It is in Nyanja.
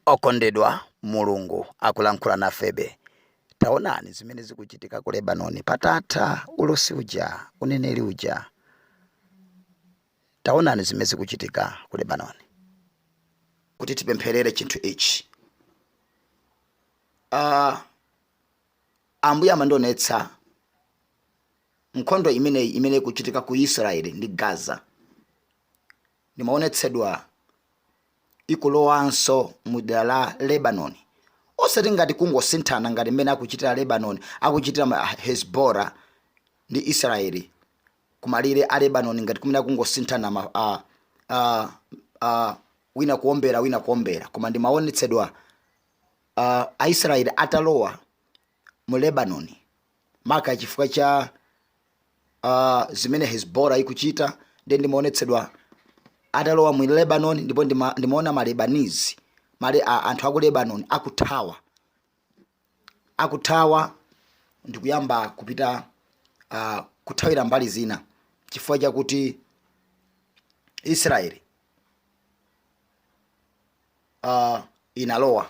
Okondedwa, Mulungu akulankhula nafebe. Taonani zimene zikuchitika ku Lebanoni patatha ulosi uja, uneneri uja. Taonani zimene zikuchitika ku Lebanoni. kuti tipempherere chinthu ichi uh, ambuye amandionetsa nkhondo imeneyi imene ikuchitika ku israeli ndi gaza Ndimaonetsedwa ikulowanso mu dera la Lebanoni, osati ngati kungosinthana ngati mmene akuchitira Lebanoni, akuchitira Hezbollah ndi Israeli ku malire a Lebanoni, ngati kumene akungosinthana ma, a, a, a, wina kuombera wina kuombera, koma ndimaonetsedwa a, Aisraeli atalowa mu Lebanon, maka chifukwa cha uh, zimene Hezbollah ikuchita nde ndimaonetsedwa atalowa mu Lebanon ndipo ndima, ndimaona ma Lebanese male a, anthu aku Lebanon akuthawa akuthawa ndikuyamba kupita uh, kuthawira mbali zina chifukwa chakuti Israeli uh, inalowa